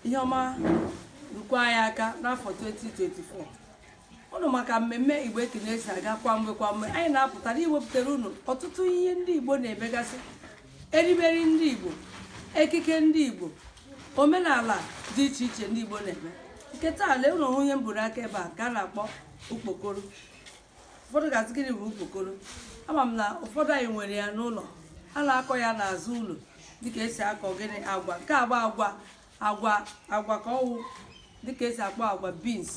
ihe ọma rukwa anyị aka n'afọ 2024 unu ma ka mmemme igbo ekunie si aga kwa mgbe kwa mgbe anyị na-apụtara iwepụtara unu ọtụtụ ihe ndị igbo na-emegasị erimeri ndị igbo ekike ndị igbo omenala dị iche iche ndị igbo na-eme nke taa leenụ ọ ihe m bu n'aka ebe a ka a na-akpọ okpokoro ụfọdụ ga-asị gịnị bụ okpokoro ama m na ụfọdụ anyị nwere ya n'ụlọ a na-akọ ya n'azụ ụlọ dịka esi akọ gịnị agwa nke a bụ agwa agwa ka ọ wụ dịka esi akpọ agwa beans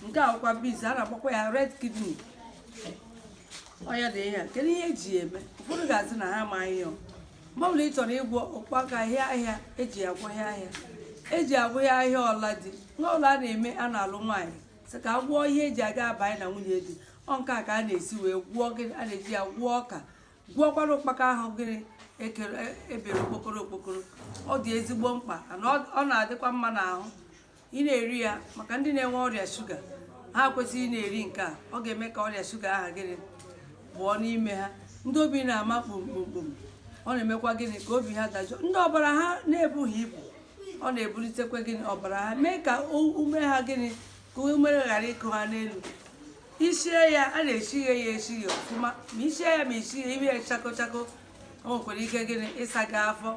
nke a wụkwa beans a na-akpọkwa ya red kidney ọ ya dị ihe a kedu ihe eji ya eme ụfọdụ ga-asị na ha amaghị ya mgbe ọbụla ị chọrọ ịgwọ ụkpaka ahịa ahịa eji ya agwọ ahịa ahịa eji agwọ ahịa ahịa ọla di n'ụlọ a na-eme a na-alụ nwaanyị sị ka a gwọọ ihe eji aga abanye na nwunye di ọ nke a ka a na-esi wee gwọọ gịnị a na-eji ya gwọọ ọka gwọọkwara ụkpaka ahụ gịnị ebere okpokoro okpokoro ọ dị ezigbo mkpa na ọ na-adịkwa mma n'ahụ ị na-eri ya maka ndị na-enwe ọrịa shuga ha kwesịrị ị na-eri nke a ọ ga-eme ka ọrịa shuga ahụ gịnị pụọ n'ime ha ndị obi na-ama kpomkpomkpom ọ na-emekwa gịnị ka obi ha dajụọ ndị ọbara ha na-ebughị ibu ọ na-ebulitekwa gịnị ọbara ha mee ka ume ha gịnị ka ume ghara ịkụ ha n'elu isie ya a na-esighe ya esighe ọfụma ma isie ya ma isighe ime ya chako chako o nwekwara ike gịnị ịsa gị afọ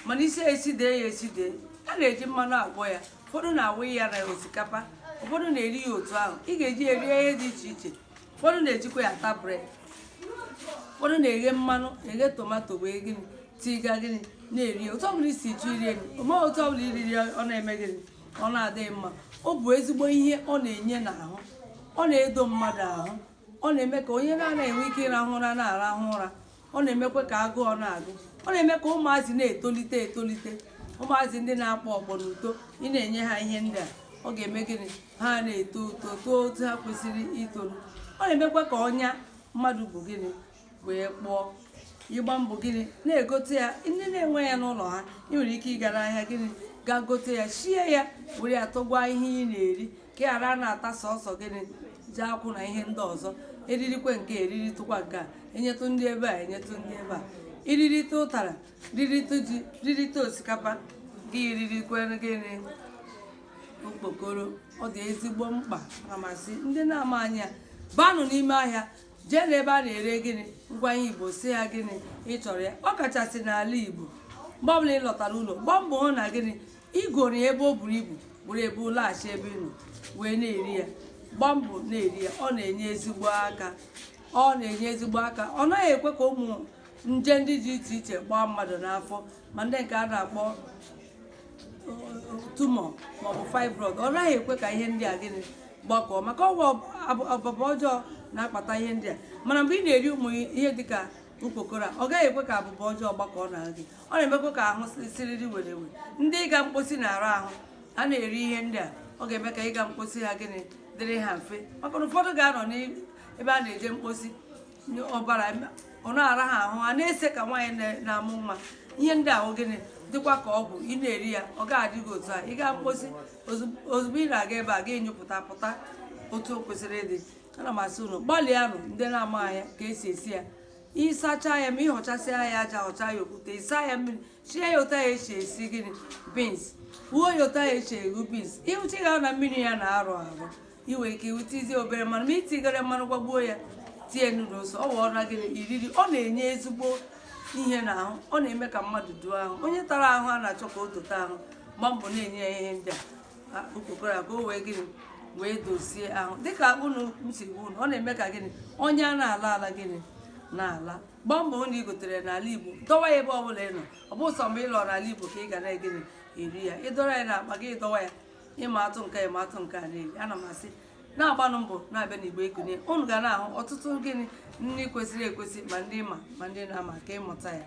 mana isie sidee ya esidee a na-eji mmanụ agwọ ya ụfọdụ na-awụ ya na osikapa ụfọdụ na-eri ya otu ahụ ị ga-eji ya rie ihe dị iche iche ụfọdụ na-ejikwa ya ata bred ụfọdụ na-eghe mmanụ eghe tomato wee gịnị tiga gịnị na-eri otu ọbụla isi chọọ iri ya ma otu ọbụla iriri ọ na-eme gịnị ọ na-adị gị mma ọ bụ ezigbo ihe ọ na-enye n'ahụ ọ na-edo mmadụ ahụ ọ na-eme ka onye na-anaghị enwe ike ịrahụ ụra na-arahụ ụra ọ na-emekwa ka agụụ na-agụ ọ na-eme ka ụmụazị na-etolite etolite ụmụazị ndị na-akpọ ọkpọ n'uto ị na-enye ha ihe ndị a ọ ga-eme gịnị ha na-eto uto too otu ha kwesịrị itoru ọ na-emekwa ka ọnya mmadụ bu gịnị wee kpọọ ị gbaa mbọ gịnị na-egote ya ndị na-enwe ya n'ụlọ ha ị nwere ike ịga n'ahịa gịnị gaa gote ya sie ya were ya tọgwa ihe ị na-eri ka ị ghara na-ata sọsọ gịnị ji akwụ na ihe ndị ọzọ eririkwe nke a eriritụkwa nke a enyetụ ndị ebe a enyetụ ndị ebe a iririte ụtara ririte ji ririte osikapa gị ririkwe gịnị okpokoro ọ dị ezigbo mkpa ana m asị ndị na-amaghị ya baanụ n'ime ahịa jee n'ebe a na-ere gịnị ngwa ihe igbo sị ha gịnị ị chọrọ ya ọ kachasị n'ala igbo mgbe ọbụla ị lọtara ụlọ gbaa mbọ hụ na gịnị ị goro ya ebe o buru ibu were bulaghachi ebe ị nọ wee na-eri ya gbaa mbọ na-eri ya ọ na-enye ezigbo aka ọ na-enye ezigbo aka ọ naghị ekwe ka ụmụ nje ndị dị iche iche gbaa mmadụ n'afọ ma ndị nke a na-akpọ tumor maọbụ fibroid ọ naghị ekwe ka ihe ndị a gịnị gbakọọ maka ọ bụ abụba ọjọọ na-akpata ihe ndị a mana mgbe ị na-eri ụmụ ihe dịka ukpokoro a ọ gaghị ekwe ka abụba ọjọọ gbakọọ na gị ọ na-emekwa ka ahụ siriri werere ndị ịga mkposi na-ara ahụ a na-eri ihe ndị a ọ ga-eme ka ịga mkposi ha gịnị dịrị ha mfe maka na ụfọdụ ga-anọ n'ebe a na-eje mkposi ọbara ọ na-ara ha ahụ ha na-ese ka nwaanyị na-amụ nwa ihe ndị ahụ gịnị dịkwa ka ọgwụ ị na-eri ya ọ ga-adị gị otu a ị gaa mkposi ozugbo ị na-aga ebe a ga-anyụpụta pụta otu o kwesịrị ịdị ana m asị unu gbalịanụ ndị na-amaghị ya ka e si esi ya ị sachaa ya ma ị họchasịa ya aja họcha ya okwute ị saa ya mmiri sie ya otu a e si esi gịnị beans ghuo ya otu a e si eghu beans ị hụcha ya na mmiri ya na-arụ arụ i nwere ike iwutizie obere mmanụ ma itigara mmanụ gbagbuo ya tie nnu ose ọ wụọ na gịnị iriri ọ na-enye ezigbo ihe n'ahụ ọ na-eme ka mmadụ doo ahụ onye tara ahụ a na-achọ ka o dote ahụ gbaa mbọ na-enye ya ihe ndị a ukpokoro a ka o wee gịnị wee dozie ahụ dịka otu m si gwa unu ọ na-eme ka gịnị ọnya na-ala ala gịnị na-ala gbaa mbọ na ị gotere n'ala igbo dọwa ya ebe ọ bụla ị nọ ọ bụ sọ mgbe ị lọrọ ala igbo ka ị ga na-egịnị eri ya ị dọrọ ya n'akpa gị ị dọwa ya ịma atụ nke ịma atụ nke a na-eri ana m asị na-agbanụ mbọ na-abịa n'igbo ekunie unu ga na-ahụ ọtụtụ gịnị nri kwesịrị ekwesị ma ndị ma ma ndị na-ama ka ị mụta ya